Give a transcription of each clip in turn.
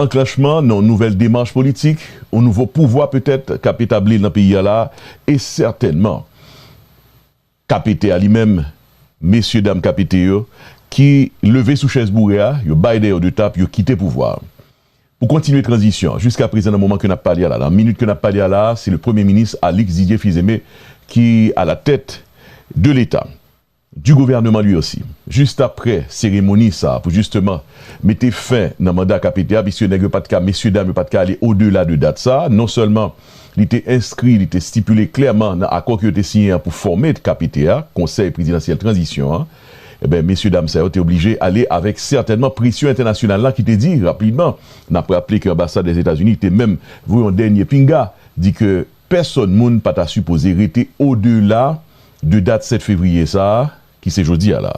Anklanchman nan yon nouvèl demach politik, yon nouvo pouvwa petèt k ap etabli l nan peyi a la a, e sètènman KPT a li menm, mesye dam KPT yo, ki leve sou chèz boure a, yo bay dèyè yo 2 tap, yo kite pouvwa a pou kontinye tranzisyon an. Jiska prezan nan moman ke n ap pale a la, nan minit ke n ap pale a la a, se le premye minis Alix Didier Fils-Aimé ki alatèt de leta. du gouvernement lui aussi juste après cérémonie sa pou justement mete fen nan manda KPT a puisque nèg yo pat ka mesye dam yo pat ka ale au delà de date sa non seulement li te inscrit li te stipule clairement nan accord ke yo te siyen an pou forme KPT a, Conseil Présidentiel Transition an, ebyen mesye dam sa yo te oblige ale avèk certainement pression internationale la ki te di rapidement, nap raple ke ambassade des États-Unis te menm voye yon dènye pinga di ke Pèsòn moun pa ta sipoze rete odela de dat 7 fevriye sa a, ki se jodi a la.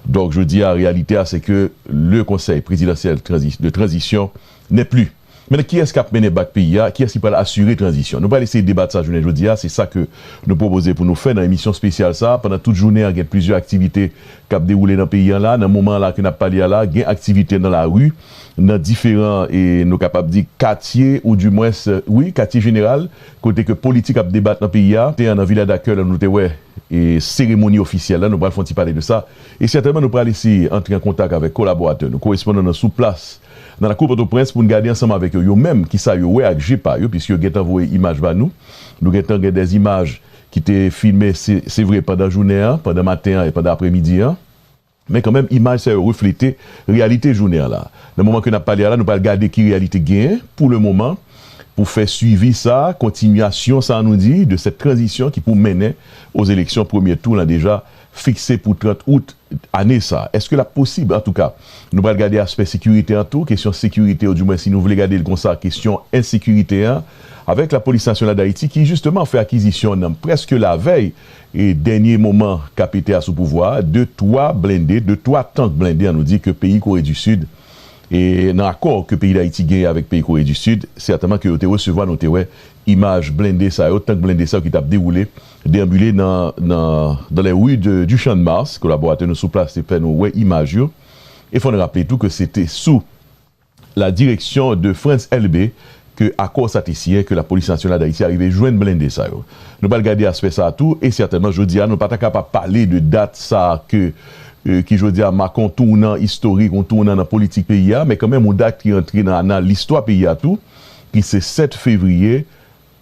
Donk jodi a reyalite a se ke le Konsèy prezidansyèl de tranzisyon n'est plus. Mennan kiyès k ap mennen bak peyi a, kiyès ki pral asire tranzisyon? Nou pral eseye debat sa jounen jodi a, se sa ke nou pwopoze pou nou fè nan emisyon spesyal sa a. Pandan tout jounen an gen plizyè aktivite k ap dewoule nan peyi an la. Nan moman an la ke n ap pale a la, gen aktivite nan lari. nan diferan e nou kapab di katye ou di mwens wi katye jeneral kote ke politik ap debat nan peyi a. Te an nan Vila da Kè lan nou te wè e seremoni ofisyèl la nou pral fon ti pale de sa e sètèman nou pral eseye antre an kontak avèk kolaboratè nou korespondan nan sou plas nan lakou Pòtoprens pou n gade ansanm avèk yo yo menm ki sa yo wè ak je pa yo piske yo gentan voye imaj ba nou. Nou gentan gen dè imaj ki te filme se se vre pandan jounen an pandan maten an e pandan apremidi an. Men kanmenm imaj sa yo reflete reyalite jounen an la. Nan moman ke nap pale a la nou pral gade ki reyalite gen pou le moman pou fè swivi sa, kontinyasyon sa nou di de sèt tranzisyon ki pou mennen oz eleksyon premye tou lan deja fikse pou 30 out ane sa. Eske lap posib? Antouka nou pral gade aspè sekirite an tou, kesyon sekirite ou di mwen si nou vle gade l konsa kesyon ensekirite an avèk lapolis nasyonal dayiti ki jisteman fè akizisyon nan preske lavèy E dènye moman KPT a sou pouvwa a, de twa blende, de twa tank blende an nou di ke peyi Kore di Sid, e nan akò ke peyi Dayiti genyen avèk peyi Kore di Sid, sètèman ke yo te resevwa, nou te wè imaj blende sa yo, tank blende sa yo ki t ap dewoule, deambule nan, nan, dans les rues de, du Champ-de-Mars, kolaboratè nou sou plas te fè nou wè imaj yo. E fò n raple tou ke se te sou. La direction de Frantz Elbé ke akò sa te siyen ke la Police Nationale d'Haïti arive jwenn blende sa yo. Nou pral gade aspè sa a tou e sètènman jodi a nou pa ta ka pa pale de dat sa a ke ki jodi a make yon tounan istorik, yon tounan nan politik peyi a men kanmenm yon dat ki antre nan anal listwa peyi a tou ki se 7 fevriye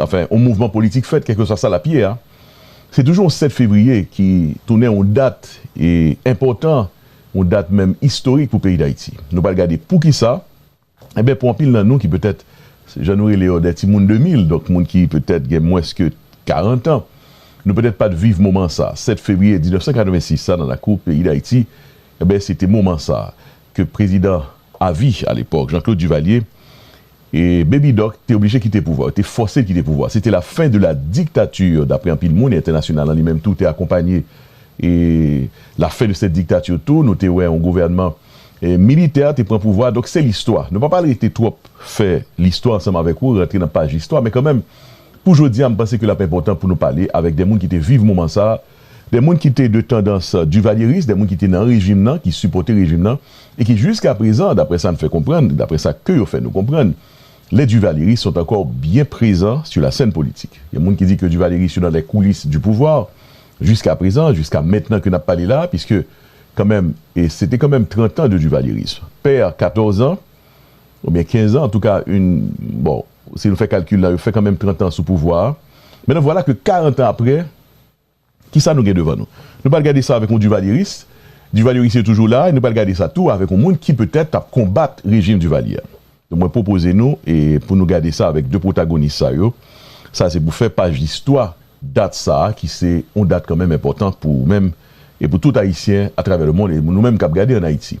Anfen, yon mouvman politik fèt, kèlkeswa sa l ap ye a, se toujou yon 7 fevriye ki tounen yon dat enpòtan, yon dat menm istorik pou peyi Dayiti. Nou pral gade poukisa. Enben, pou anpil nan nou ki petèt, jan nou rele yo, dè timoun 2000, donk moun ki petèt gen mwens ke karantan, nou petèt pa t viv moman sa. 7 fevriye 1986 sa nan lakou peyi Dayiti, enben se te moman sa ke prezidan avi alepòk, Jean Claude Duvalier, E Baby Doc te oblije kite pouvwa, yo te fòse l kite pouvwa a. Se te la fin de la dictature daprè anpil moun e entènasyonal lan li menm tou te akonpanye e la fin de cette dictature tou. Nou te wè yon gouvènman militè te pran pouvwa a. Donk se listwa. Nou pa pral rete twòp fè listwa ansanm avèk ou, rantre nan paj listwa men kanmenm pou jodi a m panse ke l ap enpòtan pou nou pale avèk de moun ki te viv moman sa a Dè moun ki te de tandans Duvalieris, dè moun ki te nan rejim nan, ki sipòte rejim nan, e ki jiska prezan, daprè sa n fè konprann, daprè sa ke yo fè nou konprann, les Duvalieristes sont encore bien présents sur la scène politique. Gen moun ki di ke Duvalieristes yo nan les coulisses du pouvoir, jiska prezan, jiska mentnan ke n ap pale la a, piske kanmenm, e se te kanmenm 30 ans de Duvalierisme. Père 14 ans, ou byen 15 ans, antouka yn, bon, si nou fè kalkil la, yo fè kanmenm 30 ans sou pouvwa a. Mennan vwala ke 40 ans aprè, Kisa nou gen devan nou? Nou pral gade sa avèk yon Duvalyeris. Duvalyeris yo toujou la e nou pral gade sa tou avèk yon moun ki petèt t ap konbat rejim Divalye a. Donk mwen pwopoze nou e pou nou gade sa avèk 2 pwotagonis sa yo. Sa se pou fè paj listwa dat sa a ki se yon dat kanmenm enpòtan pou ou menm e pou tout Ayisyen atravè lemonn e nou menm k ap gade ann Ayiti.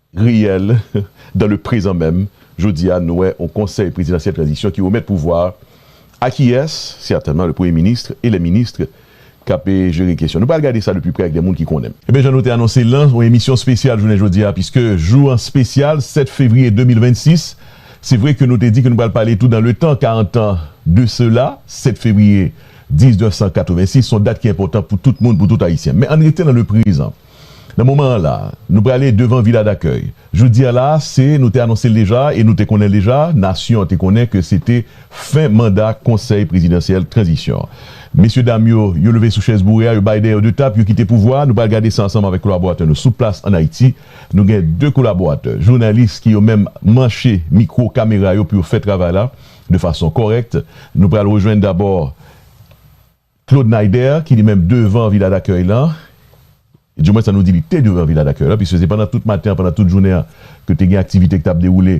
Reyèl, dan le prezan menm, jodi a nou wè yon konsèy prezidansyèl tranzisyon ki remèt pouvwa a kiyès? Sètènman le premye minis e lè minis k ap jere kesyon. Nou pral gade sa de pi prè ak de moun ki konnen. Ebyen jan nou te anonse l lan yon emisyon spesyal jounen jodi a piske jou an spesyal 7 fevriye 2026 se vre ke nou te di ke nou pral pale tou dan le tan 40 tan de sela 7 fevriye 1986 son dat ki enpòtan pou tout moun pou tout ayisyen men ann rete nan le prezan. Nan moman an la, nou prale devan Vila Dakèy. Jodi a la, se, nou te anonse l deja e nou te konnen l deja, nasyon an te konnen ke se te fen manda Konsèy Prezidansyèl Tranzisyon an. Mesye dam yo, yo leve sou chèz boure a, yo bay dèyè yo de tap, yo kite pouvwa a. Nou pral gade sa ansanm avèk kolaboratè nou sou plas ann Ayiti. Nou gen de kolaboratè, jounalis ki yo menm manche mikwo, kamera yo pou yo fè travay la de fason kòrèk. Nou pral rejwenn dabò. Claude Naider ki li menm devan Vila Dakèy lan, di mwens an nou di li te devan Vila Dakèy lan, piske se pandan tout maten an, pandan tout jounen an ke te gen aktivite ki t ap dewoule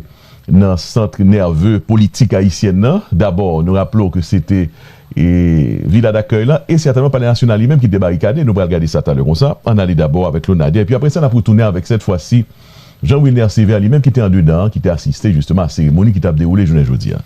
nan centre nerveux politik ayisyèn lan. Dabò, nou raple w ke se te Vila Dakèy lan e sètènman Palè Nasyonal li menm ki te barikade. Nou pral gade sa talè konsa. Ann ale dabò avèk Claude Naider, epi apre sa n ap retounen avèk sèt fwa si Jean Wilner Sévère li menm ki te andedan an, ki te asiste jisteman a seremoni ki t ap dewoule jounen jodi an.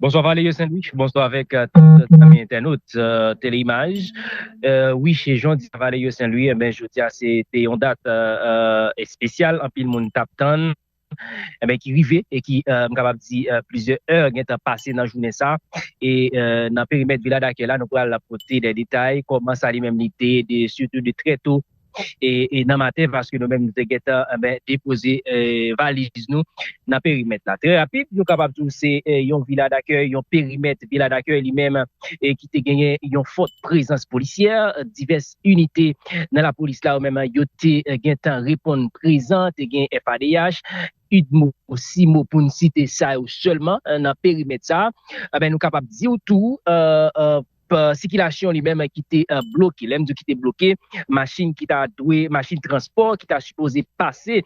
Bonswa Valerio Sandwich, bonswa avèk tout zanmi entènot Tele Imaj. Wi, jodia Valerio Senlwi, enben jodia se te yon dat espesyal anpil moun tap tann, enben ki rive e ki m kapab di plizyè è gentan pase nan jounen sa e nan perimèt Vila Dakèy la nou pral pote dè detay kòman sa li menm li te e sitou de trè to nan maten paske nou menm nou te gentan depoze valiz nou nan perimèt la. Trè rapid, nou kapab di w se yon vila dakèy, yon perimèt vila dakèy li menm ki te genyen yon fòt prezans polisyè. Divès inite nan lapolis la yo menm yo te gentan reponn prezan, te gen FADH, udmo, simo pou n site sa yo sèlman nan perimèt sa a. Nou kapab di w tou. sikilasyon li menm ki te bloke. Lè m di w ki te bloke, machin ki ta dwe, machin transpò ki ta sipoze pase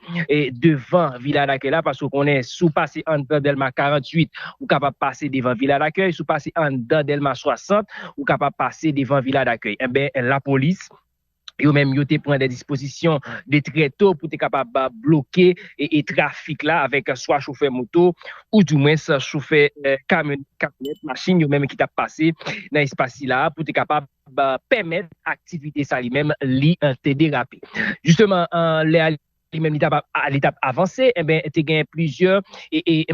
devan Vila Dakèy la, paske w konnen si w pase anndan Dèlma 48, ou kapab pase devan Vila Dakèy, si w pase anndan Dèlma 60, ou kapab pase devan Vila Dakèy. Enben, lapolis. yo menm yo te pran de dispozisyon de trè to pou te kapab bloke e trafik la avèk swa chofè moto ou di mwens chofè kamyonèt, kamyonèt, machin yo menm ki tap pase nan espas sila pou te kapab pèmèt aktivite sa li menm li te derape. Jisteman lè a. li menm li t ap avanse enben te gen plizyè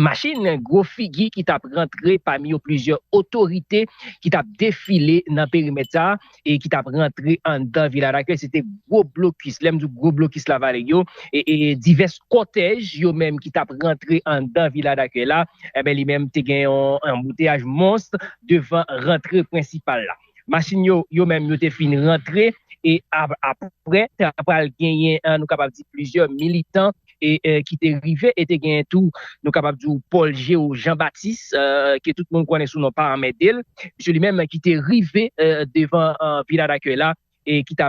machin gwo figi ki t ap rantre pami yo plizyè otorite ki t ap defile nan perimèt sa e ki t ap rantre anndan vil Anakil se te gwo blokis lè m di w gwo blokis la vale yo e divès kòtèj yo menm ki t ap rantre anndan vil Anakil la enben li menm te gen yon anbouteyaj mons devan rantre prensipal la. Machin yo, yo menm yo te fin rantre e aprè ta pral genyen nou kapab di plizyè militan ki te rive e te genyen tou nou kapab di w Paul Geo Jean Baptiste ke tout moun konnen sou non pa anmède l misye li menm ki te rive devan Vila Dakèy la e ki ta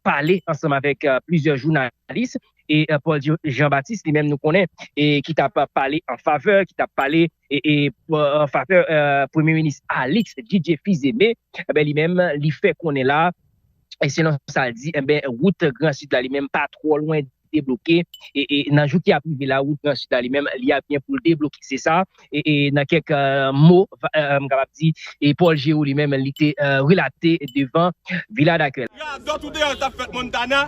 pale ansanm avèk plizyè jounalis e Paul Geo Jean Baptiste li menm nou konnen ki ta pale an favè ki ta pale favè premye minis Alix JJ Fils-Aimé li menm li fè konnen la selon sa l di wout gran sid la li menm pa twò lwen debloke nan jou ki ap rive la wout gran sid la li menm li ap gen pou l debloke se sa nan kèk mo m kapab di Paul Géroux li menm li te relate devan Villa D'Accueil. Radòt ou deyò l t ap fèt Montana.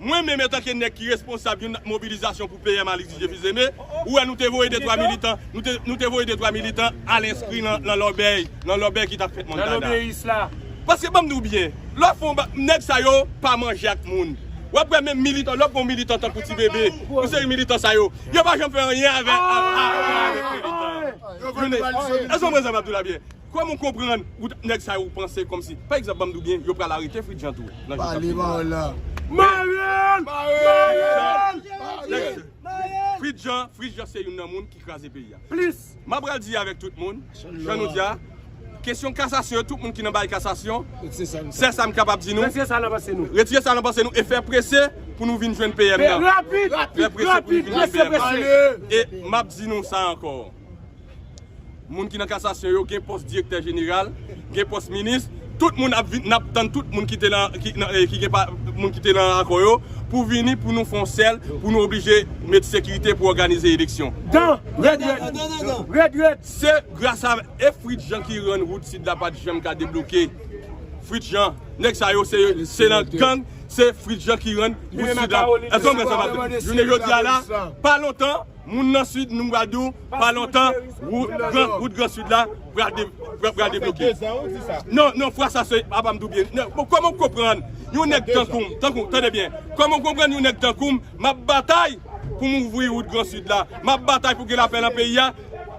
Mwen menm etanke nèg ki responsab yon mobilizasyon pou PM Alix Didier Fils-Aimé, ou wè nou te voye de twa militan, nou te voye de twa militan al enskri lan lòbèy, lan lòbèy ki tap fèt Montana. Paske banm di w byen, lè w fè yon bagay, nèg sa yo pa manje ak moun. Wap wè menm militan, lè w pran yon militan tankou Ti Bebe, yon seri militan sa yo, yo pa janm fè anyen avèk, avèk militan. Èske w konprann sa m ap di w la byen? Kwèm ou konprann wout nèg sa yo ou panse kòmsi pa egzanp banm diw byen yo pral arete Fritjean tou nan jou kap vini la Marel! Marel! Fritjean Fritjean se youn nan moun ki kraze peyi a plis ma pral di avèk tout moun jan nou di a kesyon kasasyon yo tout moun ki nan bagay kasasyon sèl sam kapab di nou retire sa nan panse nou retire sa nan panse nou e fè prese pou nou vin jwenn PM nan rapid rapid rapid prese prese e map di nou sa ankò. Moun ki nan kasasyon yo gen pòs direktè jeneral, gen pòs minis, tout moun ap vin, n ap tann tout moun ki te nan, ki nan, ki gen pa, moun ki te nan akò yo, pou vini pou nou fè yon sèl, pou nou oblije met sekirite pou òganize eleksyon. Dan! Rèd rèd! Rèd rèd! Se gras a, e Fritz Jean ki rann wout Sid la pa t janm ka debloke. Fritz Jean. Nèg sa yo se, se nan gang, se Fritz Jean ki rann wout Sid la. Èske w konprann sa m ap di? Jounen jodi a la, pa lontan, Moun nan sud nou pral di w pa lontan wout gran sud la pral debloke non fwa sa se apa m di w byen kòman w konprann yon nèg tankou m tande byen kòman w konprann yon nèg tankou m map batay pou m ouvri wout gran sud la map batay pou gen lapè nan peyi a.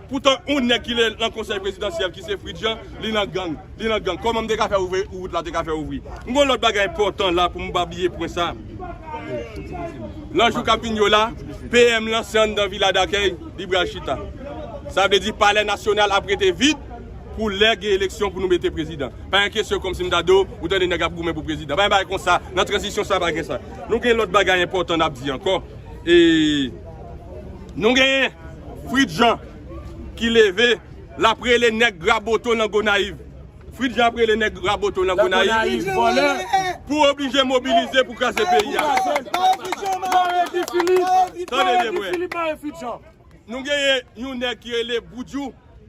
Poutan on nèg ki le lan konsèy prezidansyèl ki se Fritz Jean li lan gang, li lan gang. Kòman m te ka fè ouvri rout la te ka fè ouvri. M gon lòt bagay enpòtan la pou m pa bliye pwen sa. Lan jou k ap vin yo la, PM lan se anndan vila dakèy li pral chita. Sa vle di palè nasyonal ap rete vid pou lè gen eleksyon pou nou mete prezidan. Pa gen kesyon kòmsi m ta di w, ou tande nèg ap goumen pou prezidan. Pa gen bagay konsa, lan tranzisyon sa pa gen sa. Nou gen lòt bagay enpòtan n ap di ankò. E nou gen. Fritz Jean ki leve lap rele nèg Raboto nan Gonayiv Fritz Jean ap rele nèg Raboto nan Gonayiv vòlè pou oblije mobilize pou kraze peyi a Mare Guy Philippe Mare Guy Philippe Mare Fritz Jean Nou genyen yon nèg ki rele Boudjou.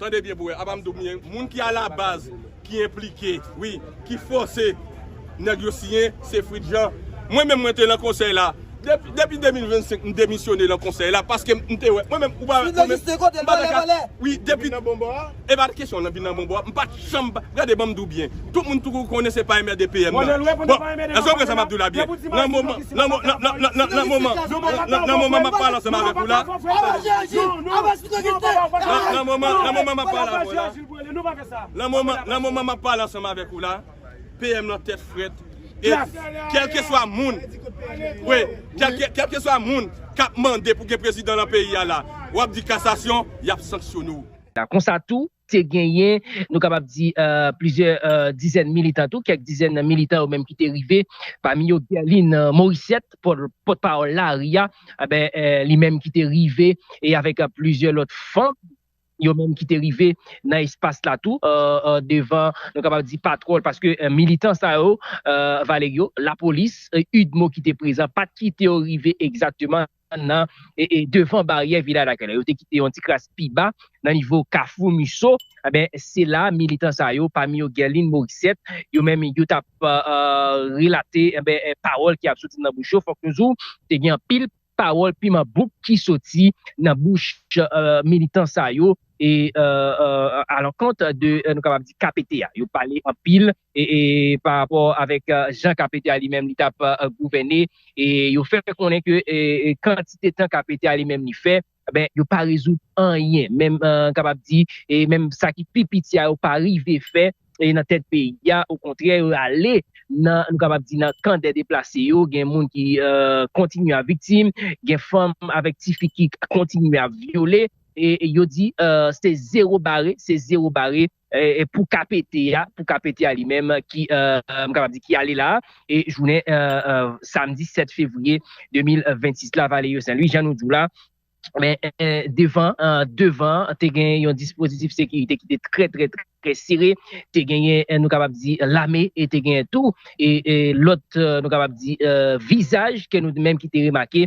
Tande byen pou wè apa m di w byen moun ki a la baz ki enplike wi ki fòse nèg yo siyen se Fritjean mwen menm mwen te lan konsèy la depi 2025 m demisyone lan konsèy la paske m te wè mwen menm ou pa wè mwen menm m pa ta ka wi depi e pa kesyon nan vin nan bon bò a m pa. Janm pa gade banm diw byen tout moun t kou konnen se pa enmède PM nan bon èske ou konprann sa map diw la byen nan moman nan nan moman nan moman map pale ansanm avèk ou la nan moman nan moman map pale avèw la nan moman nan moman map pale ansanm avèk ou la PM nan tèt frèt e kèlkeswa moun wi kèlke kèlkeswa moun kap mande pou gen prezidan nan peyi a la wap di kasasyon yap sanksyone w. La konsa tou te genyen, nou kapab di, plizyè dizèn militan tou, kèk dizèn nan militan yo menm ki te rive, pami yo Guerline Morissette, pòt pawòl lari a, li menm ki te rive, e avèk plizyè lòt fanm, yo menm ki te rive nan espas la tou, devan, nou kapab di, patwòl, paske militan sa yo, Valerio, lapolis, udmo ki te prezan, pa t kite yo rive egzakteman. nan devan baryè Vila Dakèy la, yo te kite yon ti kras pi ba nan nivo kafou Musso, enben se la militan sa yo, pami yo Guerline Morissette, yo menm yo t ap relate enben pawòl ki ap soti nan bouch yo, fòk nou di w te gen anpil pawòl piman bouk ki soti nan bouch militan sa yo e alankont de nou kapab di KPT a, yo pale anpil e pa rapò avèk jan KPT a li menm li t ap gouvène, e yo fè konnen ke kantite tan KPT a li menm li fè, enben yo pa rezoud anyen, menm m kapab di menm sa ki pi piti a yo pa rive fè nan tèt peyi a, okontrè yo ale nan nou kapab di nan kan dè deplase yo, gen moun ki kontinye ap viktim, gen fanm avèk ti fi ki kontinye ap vyole, e yo di se zewo bare, se zewo bare pou KPT a, pou KPT a li menm ki, m kapab di ki ale la, e jounen samdi 7 fevriye 2026 la, Valerio Saint-Louis, jan nou di w la, men devan, devan, te gen yon dispozitif sekirite ki te trè trè trè sere, te gen yon, nou kapab di, lame, e te gen tou, e lòt, nou kapab di, vizaj, ke nou menm ki te remake.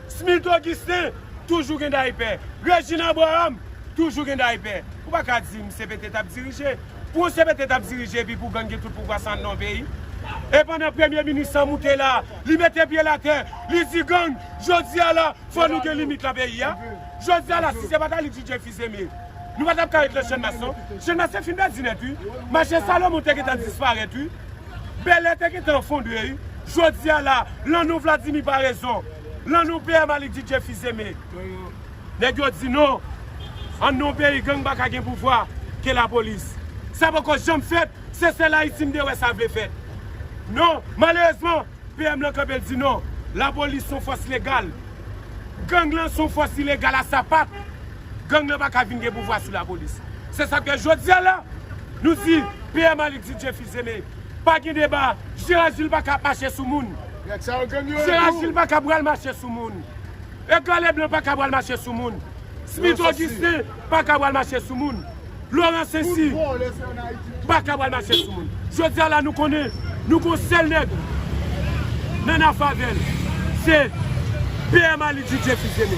Smith Augustin toujou gen dayipè. Regine Abraham toujou gen dayipè. Ou pa ka di m CPT t ap dirije. Pou yon CPT t ap dirije epi pou gang gen tout pouvwa sa nan yon peyi? E pandan premye minis lan moute la, li mete pye l atè, li di gang, jodi a la, fò nou gen limit lan peyi a. Jodi a la, si se pa t Alix DJ Fils-Aimé, nou pa t ap ka ret lè Channmas non. Channmas te fin pèdi nèt wi. Mache Salomon te gentan disparèt wi. Bèlè te gentan efondre wi. Jodia la, lan non Vladimi Paraison, lan non PM Aly Didier Fils-Aimé, nèg yo di non, an non peyi gang pa ka gen pouvwa ke lapolis. Sa poko janm fèt, se sèl Ayiti m te wè sa vle fèt. Non, malerezman, PM lan kanpe l di non, lapolis son fòs legal. Gang lan son fòs ilegal a sapat. Gang lan pa ka vin gen pouvwa sou lapolis. Se sa k fè jodia la, nou di PM Aly Didier Fils-Aimé. Zele. Pa gen deba. Gerard Gilles pa ka ap mache sou moun. Gerard Gilles pa ka pral mache sou moun. Edgar Leblanc pa ka pral mache sou moun. Smith Augustin pa ka pral mache sou moun. Laurent Ceci pa ka pral mache sou moun. Jodi a la nou konnen nou gon sèl nèg nan nan favèl. Se PM Aly Didier Fils Aimé.